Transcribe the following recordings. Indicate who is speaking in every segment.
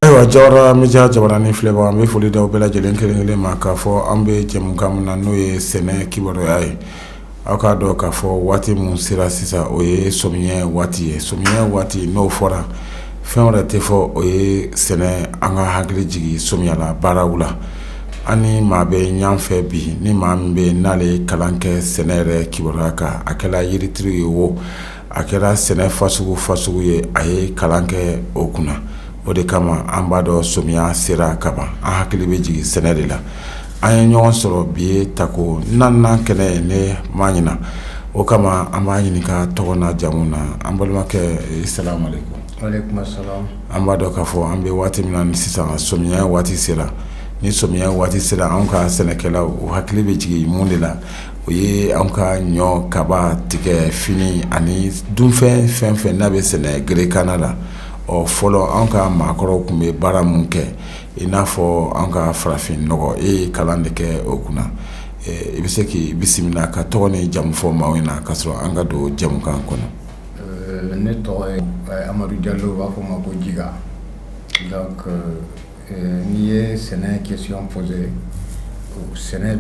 Speaker 1: Ayiwa Jawara media jabaranin filɛbaaw an bɛ foli d'aw bɛɛ lajɛlen kelen kelen ma k'a fɔ an bɛ jɛmukan min na n'o ye sɛnɛ kibaruya ye aw k'a dɔn k'a fɔ waati min sera sisan o ye sɔmiɲɛ waati ye sɔmiɲɛ waati n'o fɔra fɛn wɛrɛ tɛ fɔ o ye sɛnɛ an ka hakili jigin sɔmiyala baaraw la An ni maa bɛ ɲɔgɔn fɛ bi ni maa min bɛ n'ale ye kalan kɛ sɛnɛ yɛrɛ kibaruya kan a kɛra yirituru ye wo a kɛra sɛnɛ fasugu fasugu ye a ye kalan kɛ o kunna o de kama an b'a dɔn somiya sera ka ban an hakili bɛ jigin sɛnɛ de la an ye ɲɔgɔn sɔrɔ bi ye tako naaninan kɛnɛ ye ne ma ɲina o kama an b'a ɲininka a tɔgɔ n'a jamu na an balimakɛ salamalekum
Speaker 2: an b'a dɔn k'a
Speaker 1: fɔ an bɛ waati min na sisan sɔmiya waati sera ni sɔmiya waati sera an ka sɛnɛkɛlaw o hakili bɛ jigin mun de la o ye an ka ɲɔ kaba tigɛ fini ani dunfɛn fɛn fɛn n'a bɛ sɛnɛ gerekanna la ɔ fɔlɔ an ka maakɔrɔw tun bɛ baara minnu kɛ i n'a fɔ an ka farafin nɔgɔ e ye kalan de kɛ o kunna i bɛ se k'i bisimila ka tɔgɔ ni jamu fɔ maaw ɲɛna ka sɔrɔ an ka don jɛmukan kɔnɔ Ɛɛ ne
Speaker 2: tɔgɔ ye amadu jalo u b'a fɔ n ma ko jiga donc n'i ye sɛnɛ question posé sɛnɛ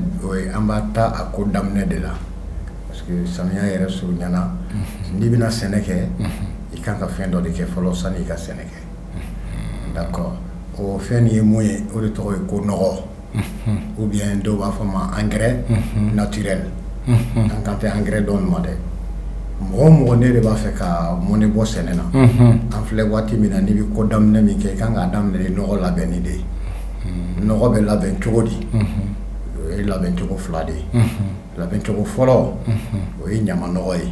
Speaker 2: an b'a ta a ko daminɛ de la parce que samiya yɛrɛ surunyana n'i bɛna sɛnɛ kɛ i kan ka fɛn dɔ de kɛ fɔlɔ sani i ka sɛnɛ kɛ d'accord o fɛn nin ye mun ye o de tɔgɔ ye ko nɔgɔ ou bien dɔw b'a fɔ a ma engrais naturel an kan tɛ engrais dɔ in ma dɛ mɔgɔ o mɔgɔ n'e de b'a fɛ ka mɔnɛ bɔ sɛnɛ na an filɛ waati min na n'i bɛ ko daminɛ min kɛ i kan k'a daminɛ ni nɔgɔ labɛnni de ye nɔgɔ bɛ labɛn cogo di o ye labɛncogo fila de ye labɛncogo fɔlɔ o ye ɲama nɔgɔ ye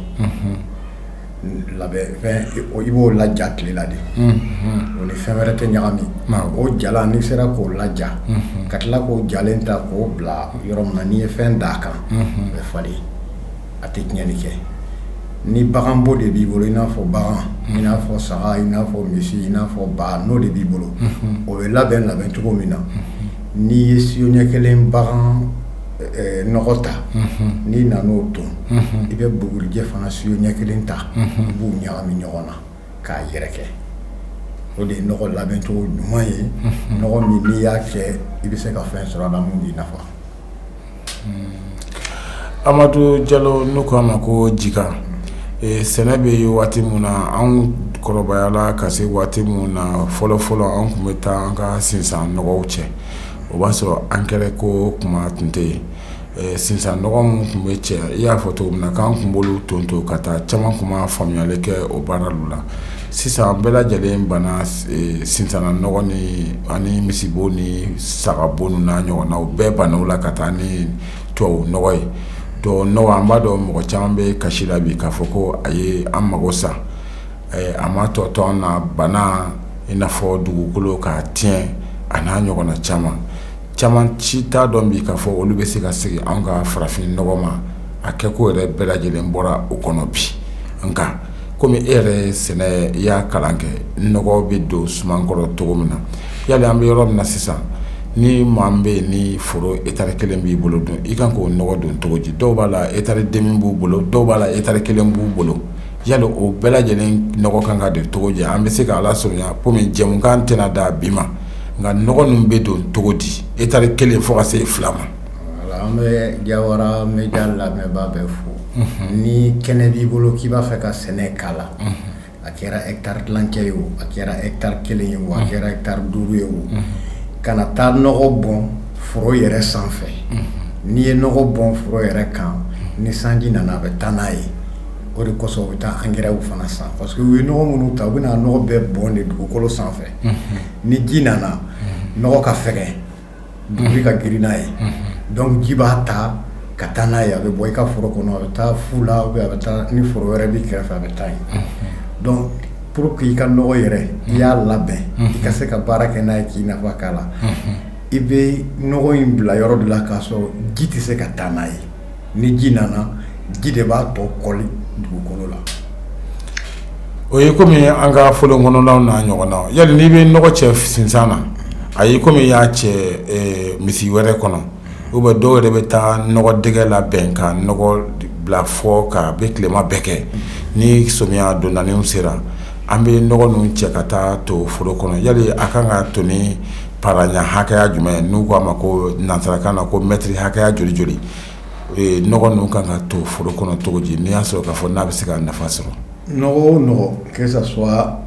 Speaker 2: i b'o laja tile la de o ni fɛn wɛrɛ tɛ ɲagami o jala n'i sera k'o laja ka tila k'o jalen ta k'o bila yɔrɔ min na n'i ye fɛn d'a kan bɛ fa a tɛ tiɲɛni kɛ ni baganbo de b'i bolo i n'a fɔ bagan i n'a fɔ saga i n'a fɔ misi i n'a fɔ ba n'o de b'i bolo o bɛ labɛn labɛn cogo min na n'i ye siyo ɲɛ kelen bagan ta n'i nana o ton i bɛ bugurijɛ fana siyo ɲɛ kelen ta i b'u ɲagami ɲɔgɔn na k'a yɛrɛkɛ o de ye nɔgɔ labɛncogo ɲuman ye nɔgɔ min n'i y'a kɛ i bɛ se ka fɛn sɔrɔ a la min b'i
Speaker 1: nafa amadu jalo n'u ko a ma ko jiga sɛnɛ bɛ ye waati min na an kɔrɔbayala ka se waati min na fɔlɔfɔlɔ an tun bɛ taa an ka sinsan nɔgɔw cɛ o b'a sɔrɔ angɛrɛ ko kuma tun tɛ yen sinsan nɔgɔ minnu tun bɛ cɛ i y'a fɔ cogo min na k'an tun b'olu tonton ka taa caman tun ma faamuyali kɛ o baara la sisan a bɛɛ lajɛlen banna sinsan na nɔgɔ ani misibo ni sagabo n'a ɲɔgɔnna bɛɛ banna o la ka taa ni tubabu nɔgɔ ye tubabu nɔgɔ an b'a dɔn mɔgɔ caman bɛ kasi la bi k'a fɔ ko a ye an mago sa a ma tɔ to an na bana i n'a fɔ dugukolo ka tiɲɛ a n'a ɲɔgɔnna caman caman ci t'a dɔn bi k'a fɔ olu bɛ se ka segin an ka farafin nɔgɔ ma a kɛko yɛrɛ bɛɛ lajɛlen bɔra o kɔnɔ bi nka kɔmi e yɛrɛ sɛnɛ i y'a kalan kɛ nɔgɔ bɛ don suman kɔrɔ cogo min na yali an bɛ yɔrɔ min na sisan ni maa min bɛ yen ni foro etari kelen b'i bolo dun i kan k'o nɔgɔ don cogo di dɔw b'a la etari demi b'u bolo dɔw b'a la etari kelen b'u bolo yali o bɛɛ lajɛlen nɔgɔ kan ka don cogo di an bɛ se k'a lasurunya kɔmi jɛmukan tɛna da bi ma nka nɔgɔ ninnu bɛ don cogo di etari kelen fo ka se fila ma an bɛ
Speaker 2: jawara media lamɛnbaa bɛɛ fo ni kɛnɛ b'i bolo k'i b'a fɛ ka sɛnɛ k'a la a kɛra etari tilancɛ ye o a kɛra etari kelen ye o a kɛra etari duuru ye o kana taa nɔgɔ bɔn foro yɛrɛ sanfɛ n'i ye nɔgɔ bɔn foro yɛrɛ kan ni sanji nana a bɛ taa n'a ye o de kɔsɔn u bɛ taa angɛrɛw fana san parce que u ye nɔgɔ minnu ta u bɛna nɔgɔ bɛɛ bɔn de dugukolo sanfɛ ni ji nana nɔgɔ ka fɛgɛn dugukolo ka girin n'a ye donc ji b'a ta ka taa n'a ye a bɛ bɔ i ka foro kɔnɔ a bɛ taa fu la ou bien a bɛ taa ni foro wɛrɛ b'i kɛrɛfɛ a bɛ taa yen pour que i ka nɔgɔ yɛrɛ i y'a labɛn i ka se ka baara kɛ n'a ye k'i nafa k'a la i bɛ nɔgɔ in bila yɔrɔ de la k'a sɔrɔ ji tɛ se ka taa n'a ye ni ji nana ji de b'a tɔ kɔli dugukolo
Speaker 1: la o ye kɔmi an ka foro kɔnɔnaw n'a ɲɔgɔnna yali n'i bɛ nɔgɔ cɛ sinsan na a ye kɔmi i y'a cɛ misi wɛrɛ kɔnɔ ou bien dɔw yɛrɛ bɛ taa nɔgɔ dɛgɛ labɛn ka nɔgɔ bila fo ka bɛ tilema bɛɛ kɛ ni somiya dondaninw sera an bɛ nɔgɔ ninnu cɛ ka taa to foro kɔnɔ yali a kan ka to paraya hakɛya jumɛn n'u k'a ma ko nansarakan na ko mɛtiri hakɛya joli joli nɔgɔ ninnu kan ka to foro kɔnɔ cogo di n'i y'a sɔrɔ k'a fɔ n'a bɛ se ka nafa sɔrɔ
Speaker 2: nɔgɔ o nɔgɔ que ça soit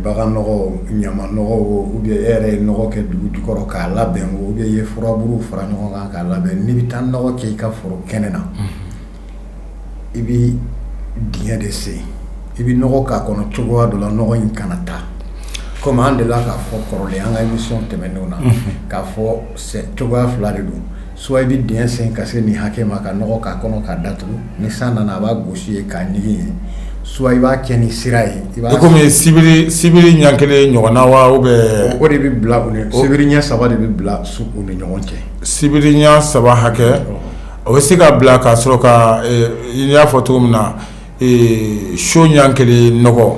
Speaker 2: bagan nɔgɔ ɲama nɔgɔ ou bien e yɛrɛ ye nɔgɔ kɛ dugu jukɔrɔ k'a labɛn ou bien i ye furaburu fara ɲɔgɔn kan k'a labɛn n'i bɛ taa nɔgɔ kɛ i ka foro kɛnɛ na i bɛ dingɛ de sen i bɛ nɔgɔ k'a kɔnɔ cogoya dɔ la nɔgɔ in kana taa kɔmi an delila k'a fɔ kɔrɔlen an ka émission tɛmɛnenw na k'a fɔ cogoya fila de don soit i bɛ dingɛ sen ka se nin hakɛ ma ka nɔgɔ k'a kɔnɔ k'a datugu ni san nana a b'a gosi ye k'a ɲigin ye soit i b'a kɛ ni sira ye i b'a kɔmi
Speaker 1: sibiri sibiri ɲɛ kelen ɲɔgɔn na wa ou bien o de bɛ bila
Speaker 2: sibiri ɲɛ saba de bɛ bila u ni ɲɔgɔn cɛ sibiri
Speaker 1: ɲɛ saba hakɛ o bɛ se ka bila ka sɔrɔ ka i y'a fɔ cogo min na siyo ɲɛ kelen nɔgɔ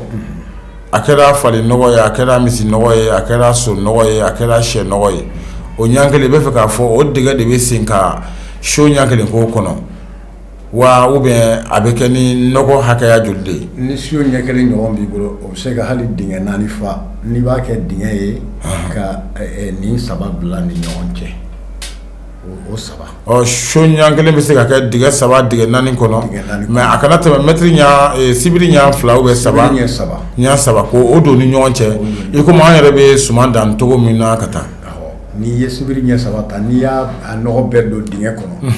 Speaker 1: a kɛra fali nɔgɔ ye a kɛra misi nɔgɔ ye a kɛra so nɔgɔ ye a kɛra sɛ nɔgɔ ye o ɲɛ kelen i bɛ fɛ k'a fɔ o dingɛ de bɛ sen ka siyo ɲɛ kelen k'o kɔnɔ wa ou bien a bɛ kɛ ni nɔgɔ hakɛya joli de ye ni so ɲɛ kelen
Speaker 2: ɲɔgɔn b'i bolo o bɛ se ka hali dingɛ naani fa n'i b'a kɛ dingɛ ye ka nin saba bila ni ɲɔgɔn cɛ so ɲɛ kelen
Speaker 1: bɛ se ka kɛ dingɛ saba dingɛ naani kɔnɔ mɛ a kana tɛmɛ mɛtiri ɲɛ sibiri ɲɛ fila ou bien saba ɲɛ saba ko o don ni ɲɔgɔn cɛ i komi an yɛrɛ bɛ suman dan cogo min na ka taa n'i ye sibiri
Speaker 2: ɲɛ saba ta n'i y'a nɔgɔ bɛɛ don dingɛ kɔnɔ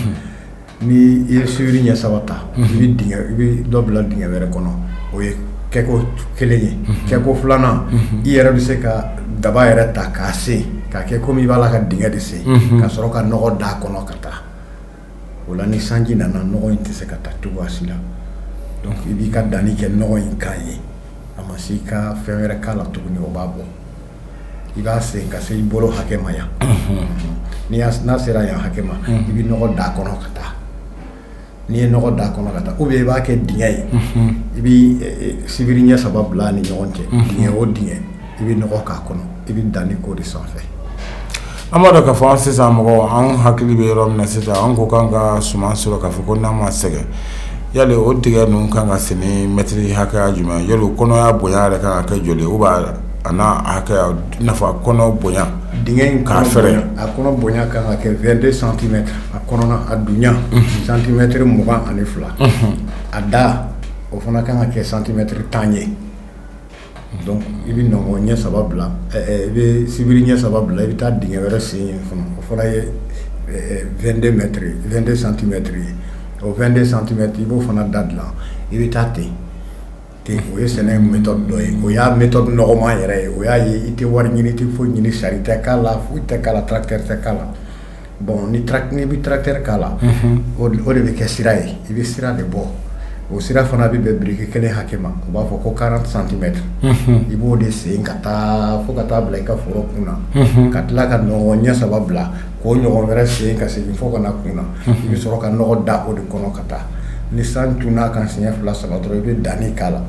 Speaker 2: Ni i ye sibiri ɲɛ saba ta, i bɛ dingɛ i bɛ dɔ bila dingɛ wɛrɛ kɔnɔ o ye kɛko kelen ye, kɛko filanan i yɛrɛ bɛ se ka daba yɛrɛ ta k'a sen k'a kɛ komi i b'a la ka dingɛ de sen ka sɔrɔ ka nɔgɔ d'a kɔnɔ ka taa o la ni sanji nana nɔgɔ in tɛ se ka taa cogoya si la donc i b'i ka danni kɛ nɔgɔ in kan yen a ma se i ka fɛn wɛrɛ k'a la tuguni o b'a bɔ i b'a sen ka se i bolo hakɛ ma yan n'a sera yan hakɛ ma i bɛ nɔgɔ d'a kɔnɔ ka taa n'i ye nɔgɔ d'a kɔnɔ ka taa ou bien i b'a kɛ dingɛ ye i bɛ sibiri ɲɛ saba bila ni ɲɔgɔn cɛ dingɛ o dingɛ i bɛ nɔgɔ k'a kɔnɔ i bɛ danni k'o de sanfɛ An
Speaker 1: b'a dɔn k'a fɔ sisan mɔgɔ an hakili bɛ yɔrɔ min na sisan an ko k'an ka suman sɔrɔ k'a fɔ ko n'an ma sɛgɛn yali o dingɛ ninnu kan ka sen ni mɛtiri hakɛya jumɛn yali o kɔnɔya bonya yɛrɛ kan ka kɛ joli ou bien a n'a hakɛya n'a fɔ kɔnɔ bonya dingɛ in k'a
Speaker 2: fɛrɛ a kɔnɔ bonya kan ka kɛ vingt-deux centimètres a kɔnɔ a dunya santimɛtiri mugan ani fila a da o fana kan ka kɛ santimɛtiri tan ye Donc i bɛ nɔgɔ ɲɛ saba bila i bɛ sibiri ɲɛ saba bila i bɛ taa dingɛ wɛrɛ sen yen fana o fana ye vingt-deux mètres vingt-deux centimètres ye o vingt-deux centimètres i b'o fana da dilan i bɛ taa ten ten o ye sɛnɛ méthode dɔ ye o y'a méthode nɔgɔman yɛrɛ ye o y'a ye i tɛ wari ɲini i tɛ foyi ɲini sari tɛ k'a la foyi tɛ k'a la tracteur tɛ k'a la bɔn n'i bɛ tracteur k'a la o de bɛ kɛ sira ye i bɛ sira de bɔ o sira fana bɛ bɛn biriki kelen hakɛ ma u b'a fɔ ko quarante centimètres i b'o de sen ka taa fo ka taa bila i ka foro kun na ka tila ka nɔngɔn ɲɛ saba bila k'o ɲɔgɔn wɛrɛ sen ka segin fo ka na kun na i bɛ sɔrɔ ka nɔgɔ da o de kɔnɔ ka taa ni san tun n'a kan siɲɛ fila saba dɔrɔn i bɛ danni k'a la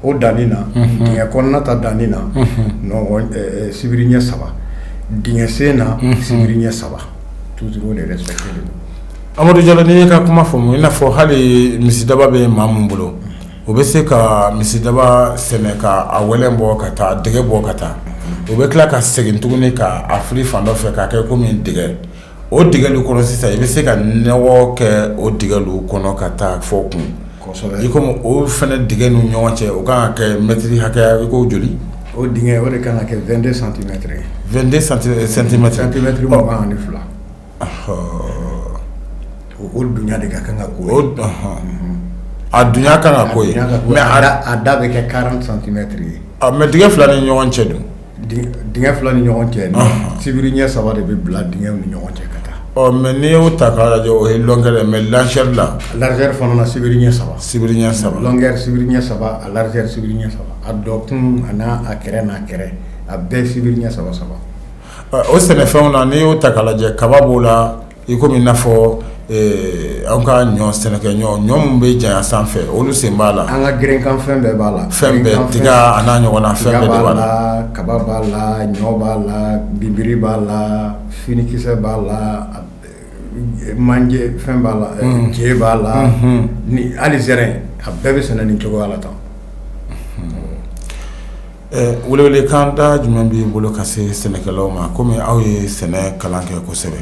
Speaker 2: o danni na dingɛ kɔnɔna ta danni na sibiri ɲɛ saba dingɛ sen na sibiri ɲɛ saba toujours o de respectélen don amadu jalo n'i ye
Speaker 1: ka kuma faamu i n'a fɔ hali misidaba bɛ maa min bolo o bɛ se ka misidaba sɛnɛ ka a wɛlɛn bɔ ka taa dingɛ bɔ ka taa o bɛ tila ka segin tuguni k' a fili fan dɔ fɛ k'a kɛ komi dingɛ o dingɛlu kɔnɔ sisan i bɛ se ka nɔgɔ kɛ o dingɛlu kɔnɔ ka taa fo kun i komi o fana dingɛ ninnu ɲɔgɔn cɛ o ka kan ka kɛ mɛtiri hakɛya i ko joli o dingɛ o de
Speaker 2: ka kan ka kɛ 22 santimɛti ye
Speaker 1: 22 santimɛti santimɛti mugan
Speaker 2: ni fila
Speaker 1: o dunya de ka kan ka k'o ye a dunya kan ka
Speaker 2: k'o ye mɛ a da bɛ kɛ quarante centimètres ye mɛ dingɛ fila ni
Speaker 1: ɲɔgɔn cɛ dun Dingɛ
Speaker 2: fila ni ɲɔgɔn cɛ sibiri ɲɛ saba de bɛ bila dingɛ ni ɲɔgɔn cɛ ka taa mɛ n'i y'o ta
Speaker 1: k'a lajɛ o ye longueur mɛ largeur la largeur fana na sibiri
Speaker 2: ɲɛ saba sibiri ɲɛ
Speaker 1: saba longueur sibiri ɲɛ
Speaker 2: saba a largeur sibiri ɲɛ saba a dɔ kun a n'a a kɛrɛ n'a kɛrɛ a bɛɛ sibiri ɲɛ saba saba o
Speaker 1: sɛnɛfɛnw na n'i y'o ta k'a lajɛ kaba b'o la I komi i n'a fɔ an ka ɲɔ sɛnɛkɛ ɲɔ ɲɔ min bɛ janya sanfɛ olu sen b'a la an ka gerenkan fɛn bɛɛ
Speaker 2: b'a la fɛn
Speaker 1: bɛɛ tiga a n'a ɲɔgɔnna fɛn b'a la kaba b'a la
Speaker 2: ɲɔ b'a la bimbiri b'a la finikisɛ b'a la manje fɛn b'a la je b'a la ni hali zɛrɛ a bɛɛ bɛ sɛnɛ nin cogoya la tan
Speaker 1: Welewelekan da jumɛn b'i bolo ka se sɛnɛkɛlaw ma kɔmi aw ye sɛnɛ kalan kɛ kosɛbɛ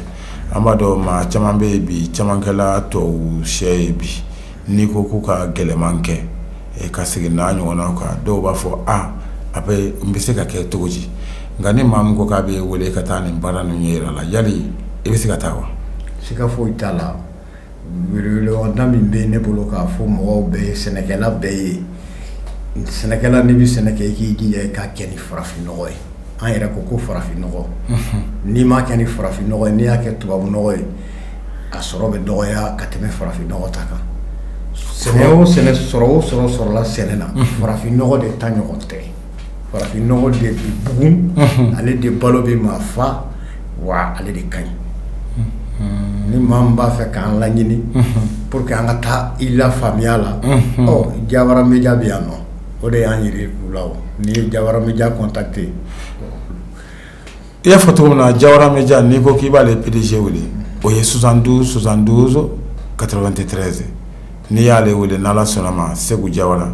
Speaker 1: an b'a dɔn maa caman bɛ yen bi caman kɛla tubabucɛ ye bi n'i ko k'u ka gɛlɛman kɛ ka segin n'a ɲɔgɔnna kan dɔw b'a fɔ a a bɛ n bɛ se ka kɛ cogo di nka ni maa min ko k'a b'i wele ka taa nin baara ninnu ɲɛyira la yali i bɛ se ka taa wa siga foyi t'a
Speaker 2: la weleweleda min bɛ ne bolo k'a fɔ mɔgɔw bɛɛ ye sɛnɛkɛla bɛɛ ye sɛnɛkɛla n'i bɛ sɛnɛ kɛ i k'i jija i k'a kɛ ni farafin nɔgɔ ye an yɛrɛ ko ko farafin nɔgɔ n'i m'a kɛ ni farafin nɔgɔ ye n'i y'a kɛ tubabu nɔgɔ ye a sɔrɔ bɛ dɔgɔya ka tɛmɛ farafin nɔgɔ ta kan sɛ o sɔrɔ o sɔrɔ sɔrɔla sɛnɛ na farafin nɔgɔ de ta ɲɔgɔn tɛ farafin nɔgɔ de bɛ bugun ale de balo bɛ maa fa wa ale de ka ɲi ni maa min b'a fɛ k'an laɲini pour que an ka taa i la faamuya la Jawara Media bɛ yan nɔ o de y'an yira u la n'i ye Jawara Media contacté
Speaker 1: I y'a fɔ cogo min na Jawara media n'i ko k'i b'ale PDG wele o ye 72 72 93 n'i y'ale wele n'Ala sɔnn'a ma Seku Jawara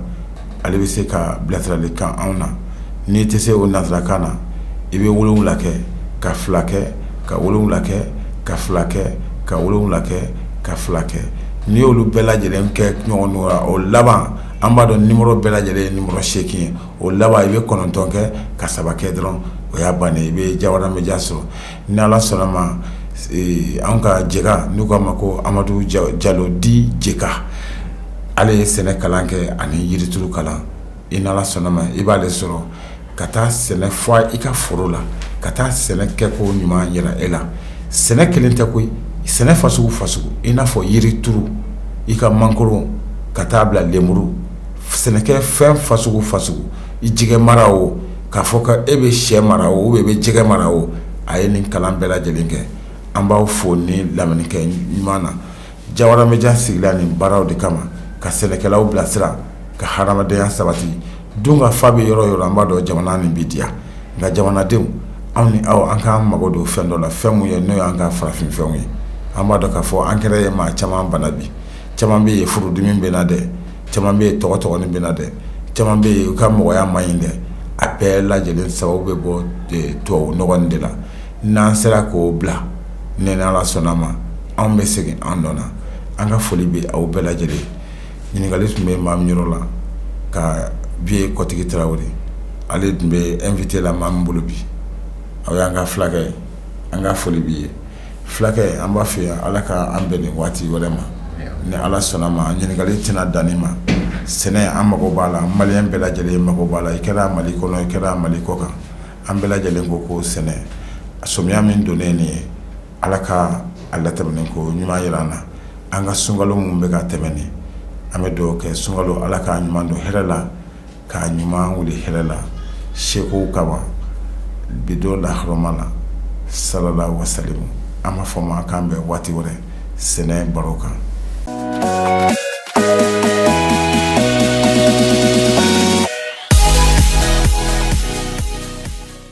Speaker 1: ale bɛ se ka bilasiralikan anw na n'i tɛ se o nansarakan na i bɛ 7 kɛ ka 2 kɛ ka 7 kɛ ka 2 kɛ ka 7 kɛ ka 2 kɛ n'i y'olu bɛɛ lajɛlen kɛ ɲɔgɔn na o laban an b'a dɔn numéro bɛɛ lajɛlen ye numéro 8 ye o laban i bɛ kɔnɔntɔn kɛ ka saba kɛ dɔrɔn o y'a ban i bɛ jawara media sɔrɔ ni ala sɔnna ma an ka jɛka n'u k'a ma ko amadu jalo dit jɛka ale ye sɛnɛ kalan kɛ ani yirituru kalan i n'ala sɔnna ma i b'ale sɔrɔ ka taa sɛnɛ fɔ i ka foro la ka taa sɛnɛ kɛko ɲuman yira e la sɛnɛ kelen tɛ koyi sɛnɛ fasugu fasugu i n'a fɔ yirituru i ka mangoro ka taa bila lenmuru sɛnɛkɛ fɛn fasugu fasugu i jɛgɛ mara o k'a fɔ ko e bɛ sɛ mara o i bɛ jɛgɛ mara o a ye nin kalan bɛɛ lajɛlen kɛ an b'aw fo ni lamɛnni kɛ ɲuman na jawara media sigira nin baaraw de kama ka sɛnɛkɛlaw bilasira ka hadamadenya sabati dunkafa bɛ yɔrɔ o yɔrɔ an b'a dɔn jamana nin bɛ diya nka jamanadenw anw ni aw an k'an mago don fɛn dɔ la fɛn mun ye n'o y'an ka farafin fɛnw ye an b'a dɔn k'a fɔ engrais ye maa caman bana bi caman bɛ yen furudimi bɛ na dɛ caman bɛ yen tɔgɔtɔgɔnin bɛ na dɛ caman bɛ yen u ka mɔgɔya man ɲi dɛ a bɛɛ lajɛlen sababu bɛ bɔ tubabu nɔgɔ de la n'an sera k'o bila n'ala sɔnna ma anw bɛ segin an nɔ na an ka foli bɛ aw bɛɛ lajɛlen ɲininkali tun bɛ maa min yɔrɔ la ka bi ye kɔtigi tarawele ale tun bɛ invité la maa min bolo bi aw y'an ka fulakɛ ye an ka foli b'i ye fulakɛ an b'a fɛ yan ala ka an bɛn nin waati wɛrɛ ma ni ala sɔnna ma ɲininkali tɛna dan nin ma sɛnɛ an mago b'a la maliyɛn bɛɛ lajɛlen mago b'a la i kɛra mali kɔnɔ i kɛra mali kɔ kan an bɛɛ lajɛlen ko sɛnɛ samiya min donnen nin ye ala ka a latɛmɛn ko ɲuman jira an na an ka sunkalo min bɛ ka tɛmɛ nin an bɛ dugaw kɛ sunkalo ala k'a ɲuman don hɛrɛ la k'a ɲuman wuli hɛrɛ la seko kama bi don lahɔrɔma la sallallahu wasalamu an b'a fɔ ma k'an bɛn waati wɛrɛ sɛnɛ baro kan